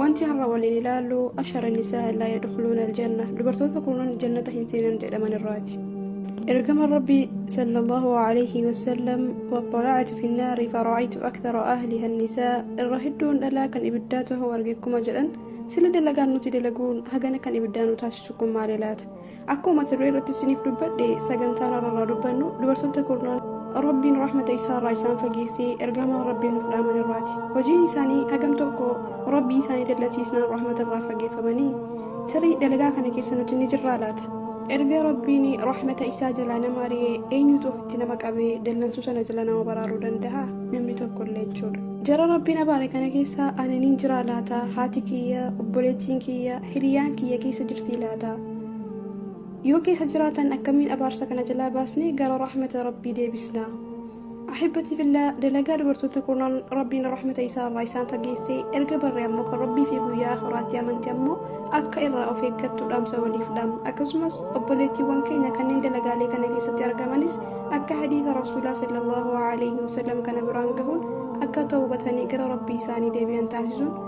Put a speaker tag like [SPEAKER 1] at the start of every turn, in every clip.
[SPEAKER 1] Wanti har'a waliin ilaallu ashara nisaa laa yadkhuluuna aljanna dubartoota kunan jannata hin seenan jedhaman irraati. Ergama Rabbi sallallahu alayhi wasallam waxxalactu fi nnaari fara'aytu akthara ahliha nisaa irra hedduun dhalaa kan ibiddaa tahuu arge akkuma jedhan sila dalagaan nuti dalaguun hagana kan ibiddaa nu taasisu kun maali laata? Akkuma mata duree irratti isiniif dubbadhe sagantaan har'aa dubbannu dubartoota kurnaan rabbiin rahmata isaa irraa isaan fageessee ergamaa rabbiin nuuf dhaaman irraati hojiin isaanii hagam tokko rabbii isaanii dallansiisnaan rahmata irraa fageeffamanii tarii dalagaa kana keessa nuti ni jirraa laata erga rabbiin rahmata isaa jalaa nama ari'ee eenyutu ofitti nama qabee dallansuu sana jala nama baraaruu danda'a namni tokko illee jechuudha jara rabbiin abaare kana keessa ani niin jiraa laata haati kiyya obboleettiin kiyya hiriyaan kiyya keessa jirtii laata yoo keessa jiraatan akkamiin abaarsa kana jalaa baasnee gara rahmata rabbii deebisna ahibbati fillaa dalagaa dubartoota kurnan rabbiin rahmata isaa irraa isaan fageessee erga barree ammoo kan rabbii fi guyyaa akhiraatti amanti ammoo akka irraa of eeggattu dhaamsa waliif dhaam akkasumas obboleettiiwwan keenya kanneen dalagaalee kana keessatti argamanis akka hadiisa rasuulaa sallallahu alaihi wasallam kana biraan gahuun akka tawbatanii gara rabbii isaanii deebi'an taasisuun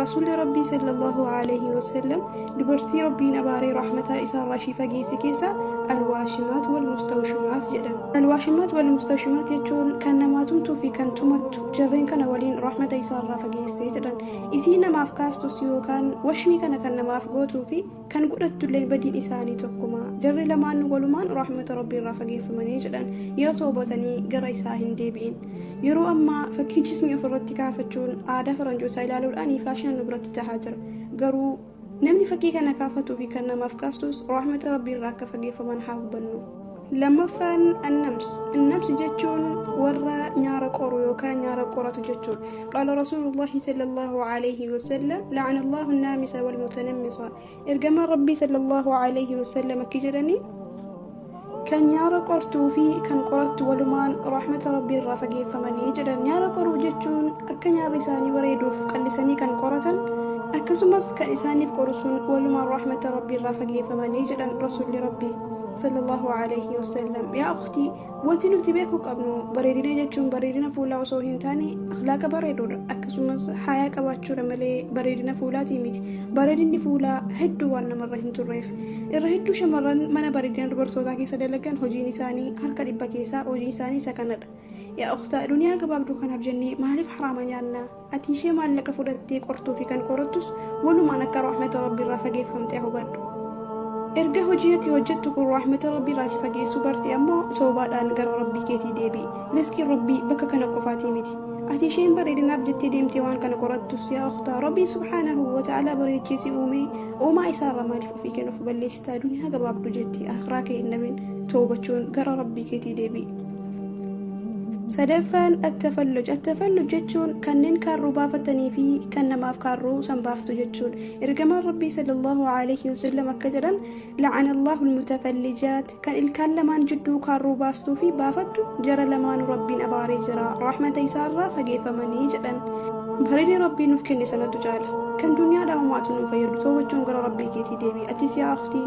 [SPEAKER 1] Rasuulli Rabbii sallallahu alaihi wasallam dubartii Rabbiin abaaree rahmataa isaarraa ishii fageesse keessaa alwaashimaat wal mustawshimaat jedhan. Alwaashimaat wal mustawshimaat jechuun kan namaa tumtuu fi kan tumattu jarreen kana waliin rahmata isaarraa fageesse jedhan. Isii namaaf kaastus yookaan washmii kana kan namaaf gootuu fi kan godhattullee badiin isaanii tokkuma jarri lamaan walumaan rahmata rabbii irraa fageeffamanii jedhan yoo toobatanii gara isaa hin deebi'in yeroo ammaa fakkii jismii ofirratti kaafachuun aadaa faranjootaa ilaaluudhaan faashina nu biratti tahaa jira garuu namni fakkii kana kaafatuu fi kan namaaf kaastus rahmata rabbii irraa akka fageeffaman haa hubannu Lammaffaan annams. Annams jechuun warra nyaara qoru yookaan nyaara qoratu jechuudha. Qaala Rasuulullaahi sallallahu alaihi wasallam la'ana Allahu naamisa wal mutanammisa. Ergamaan Rabbii sallallahu alaihi wasallam akki jedhanii kan nyaara qortuu fi kan qorattu walumaan rahmata rabbii irraa fageeffamanii jedhan nyaara qoruu jechuun akka nyaarri isaanii bareeduuf qallisanii kan qoratan akkasumas kan isaaniif qoru sun walumaan rahmata rabbii irraa fageeffamanii jedhan rasuulli rabbii sallallahu alayhi wasallam yaa ukhtii wanti nuti beekuu qabnu bareedina jechuun bareedina fuulaa osoo hin taane akhlaaqa bareeduudha akkasumas haayaa qabaachuudha malee bareedina fuulaatii miti bareedinni fuulaa hedduu waan namarra hin turreef irra hedduu shamarran mana bareedina dubartootaa keessa dalagan hojiin isaanii harka dhibba keessaa hojiin isaanii isa kanadha yaa ukhtaa duniyaa gabaabduu kanaaf jennee maaliif haraama nyaannaa Ati ishee maallaqa fudhattee qortuu fi kan qorattus walumaan akka rahmata rabbii irraa fageeffamte hubadhu. Erga hojii ati hojjettu kun rahmata rabbii irraa si fageessuu barte ammoo toobaadhaan gara rabbii keetii deebi'i. Riskiin rabbii bakka kana qofaatii miti. Ati isheen bareedinaaf jettee deemtee waan kana qorattus yaa ukhtaa rabbii subhaanahu wa ta'aalaa bareechee si uumee uumaa isaarra maaliif ofii kennuuf balleessitaa duniyaa gabaabdu jetti akhiraa kee hin dhabin toobachuun gara rabbii keetii deebi'i. sadaffaan attafalluj attafalluj jechuun kanneen kaarruu baafatanii fi kan namaaf kaarruu san baaftu jechuudha ergamaan rabbii sallallahu alaihi wasallam akka jedhan la'ana allahu almutafallijaat kan ilkaan lamaan jidduu kaarruu baastuu fi baafattu jara lamaanu rabbiin abaaree jira rahmata isaarraa fageeffamanii jedhan bareedee rabbii nuuf kenne sanatu caala kan duniyaa dhaamaatu nuuf fayyadu toobachuun gara rabbii keetii deebi atis yaa akhtii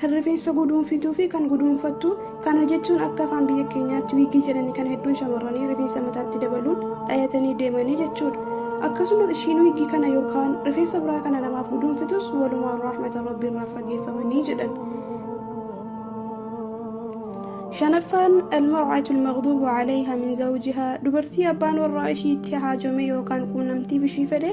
[SPEAKER 1] kan rifeensa guduunfituu fi kan guduunfattu kana jechuun akka afaan biyya keenyaatti wiigii jedhanii kan hedduun shamarranii rifeensa mataatti dabaluun dhayatanii deemanii jechuudha. Akkasumas ishiin wiigii kana yookaan rifeensa biraa kana namaaf guduunfitus walumaan rahmata rabbii irraa fageeffamanii jedhan. shanaffaan almar'atul maghduubu alayha min zawjiha dubartii abbaan warraa ishiitti haajome yookaan quunnamtii bishii fedhe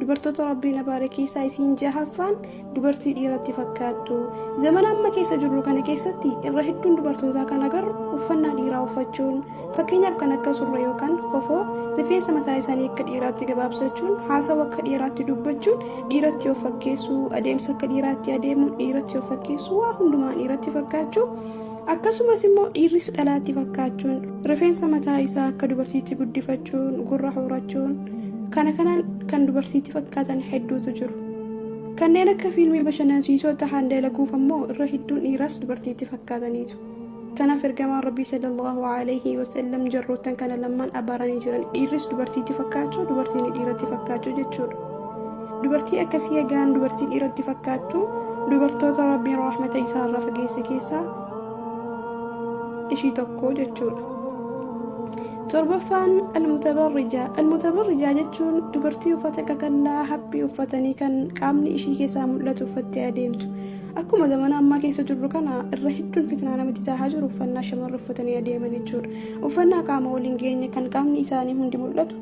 [SPEAKER 1] dubartoota rabbiin abaare keessaa isiin jahaffaan dubartii dhiiratti fakkaattu zamana amma keessa jirru kana keessatti irra hedduun dubartootaa kan agarru uffannaa dhiiraa uffachuun fakkeenyaaf kan akka surra yookaan kofoo rifeensa mataa isaanii akka dhiiraatti gabaabsachuun haasawa akka dhiiraatti dubbachuun dhiiratti of fakkeessuu adeemsa akka dhiiraatti adeemuun dhiiratti of fakkeessuu waa hundumaan dhiiratti fakkaachuu Akkasumas immoo dhiirris dhalaatti fakkaachuun rifeensa mataa isaa akka dubartiitti guddifachuun gurra horachuun kana kanaan kan dubartiitti fakkaatan hedduutu jiru. Kanneen akka fiilmii bashannansiisoo tahaan dalaguuf ammoo irra hedduun dhiiras dubartiitti fakkaataniitu. Kanaaf ergamaan Rabbii sallallahu alaihi wasallam jarroottan kana lamaan abaaranii jiran dhiirris dubartiitti fakkaachuu dubartiin dhiiratti fakkaachuu jechuudha. dubartii akkasii egaan dubartii dhiiratti fakkaattu dubartoota rabbiin rahmata isaa irraa fageesse keessaa ishii tokko jechuudha. torbaffaan almutabarrijaa almutabarrijaa jechuun dubartii uffata qaqallaa haphii uffatanii kan qaamni ishii keessaa mul'atu uffattee adeemtu akkuma zamana ammaa keessa jirru kana irra hedduun fitnaa namatti tahaa jiru uffannaa shamarra uffatanii adeeman jechuudha uffannaa qaama waliin geenye kan qaamni isaanii hundi mul'atu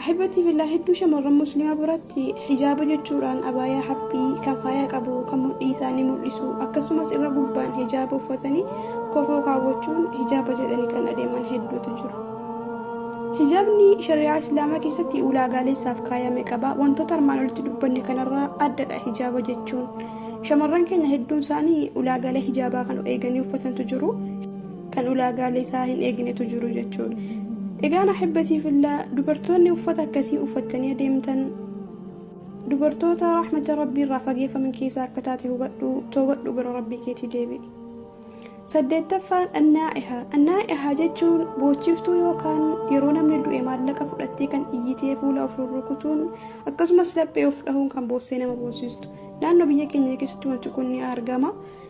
[SPEAKER 1] Ahibati filaa hedduu shamarran muslimaa biratti hijaaba jechuudhaan abaayaa haphii kan faaya qabu kan mudhii isaanii mul'isu akkasumas irra gubbaan hijaaba uffatanii kofoo kaawwachuun hijaaba jedhanii kan adeeman hedduutu jiru. Hijaabni shari'aa islaamaa keessatti ulaagaalee isaaf kaayame qaba. Wantoota armaan olitti dubbanne kanarraa addadha hijaaba jechuun. Shamarran keenya hedduun isaanii ulaagaalee hijaabaa kan eeganii uffatantu jiru. kan ulaagaalee isaa hin eegnetu jiru jechuudha. Egaan ahibbatii fillaa dubartoonni uffata akkasii uffattanii adeemtan dubartoota rahmata rabbii irraa fageeffaman keessaa akka taate hubadhu toobadhu gara rabbii keetii deebi'i. Saddeettaffaan annaa'iha. Annaa'iha jechuun boochiftuu yookaan yeroo namni du'e maallaqa fudhattee kan iyyitee fuula of rurrukutuun akkasumas laphee of dhahuun kan boossee nama boossistu. Naannoo biyya keenya keessatti wanti kun ni argama.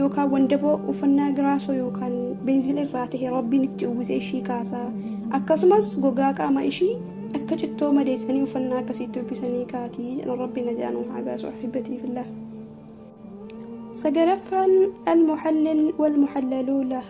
[SPEAKER 1] yookaan wandaboo uffannaa giraasoo yookaan beenzila irraa ta'e rabbiin itti uwwisee ishii kaasa akkasumas gogaa qaama ishii akka cittoo madeessanii uffannaa akkasiitti uffisanii kaati jedhan rabbi najaanuu haa baasu ahibbatiifillah sagalaffaan almuhallil walmuhallaluulah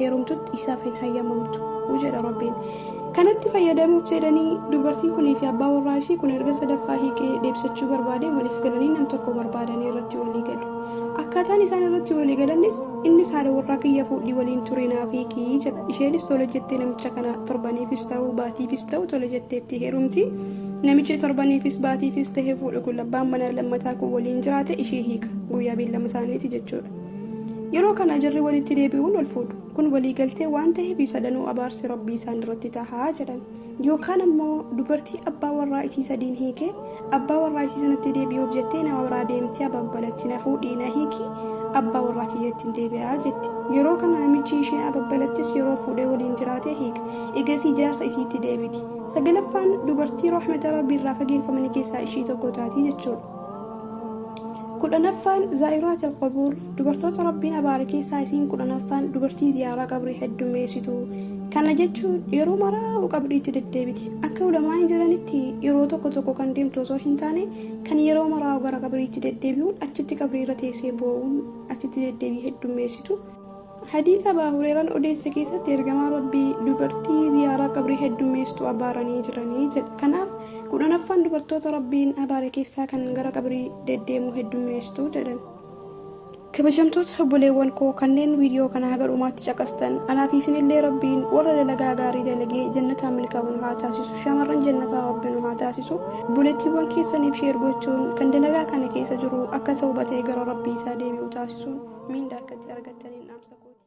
[SPEAKER 1] heerumtutti isaaf hin hayyamamtu jedha rabbiin kanatti fayyadamuuf jedhanii dubartiin kunii fi abbaa warraa ishii kun erga sadaffaa hiikee deebisachuu barbaadee waliif galanii nam tokko barbaadanii irratti walii galu akkaataan isaan irratti walii galanis innis haadha warraa kiyya fuudhii waliin turee naaf hiikii jedha isheenis tole jettee namicha kana torbaniifis ta'uu baatiifis ta'uu tole jetteetti heerumti namichi torbaniifis baatiifis ta'ee fuudhu kun labbaan manaa lammataa kun waliin jiraate ishee hiika guyyaa beellama isaaniiti jechuudha. Yeroo kana jarri walitti deebi'uun ol fuudhu. Kun waliigaltee waan ta'eef sadanuu abaarsi rabbii isaan irratti tahaa jedhan. Yookaan ammoo dubartii abbaa warraa isii sadiin hiikee abbaa warraa isii sanatti deebi'uuf jettee nama biraa deemtee ababbalatti na fuudhii na hiikii abbaa warraa kiyyattiin deebi'aa jetti. Yeroo kana namichi ishee ababbalattis yeroo fuudhee waliin jiraatee hiika. Egasii jaarsa isiitti deebiti. Sagalaffaan dubartii rahmata rabbii irraa fageeffamanii keessaa ishii tokko taati jechuudha. kudhanaffaan zaa'iraat alqabuur dubartoota rabbiin abaare keessaa isiin kudhanaffaan dubartii ziyaaraa qabrii heddummeessitu kana jechuun yeroo maraa'u qabriitti deddeebiti akka ulamaa'in jiranitti yeroo tokko tokko kan deemtu osoo hin taane kan yeroo maraa'u gara qabriitti deddeebi'uun achitti qabrii irra teessee boo'uun achitti deddeebii heddummeessitu Hadiisa Abaa Hureeraan odeesse keessatti ergamaan Rabbii dubartii ziyaaraa qabrii heddummeessitu abaaranii jiranii jedha. Kanaaf kudhanaffaan dubartoota Rabbiin abaare keessaa kan gara qabrii deddeemuu heddummeessitu jedhan. Kabajamtoota obboleewwan koo kanneen viidiyoo kana haga dhumaatti caqastan anaa fi isinillee Rabbiin warra dalagaa gaarii dalagee jannataan milkaa'u nu haa taasisu shamarran jannataa Rabbi nu haa taasisu Obboleettiiwwan keessaniif sheer gochuun kan dalagaa kana keessa jiru akka tawbatee gara rabbii isaa deebi'u taasisuun miindaa akkatti argattaniin dhaamsa kooti.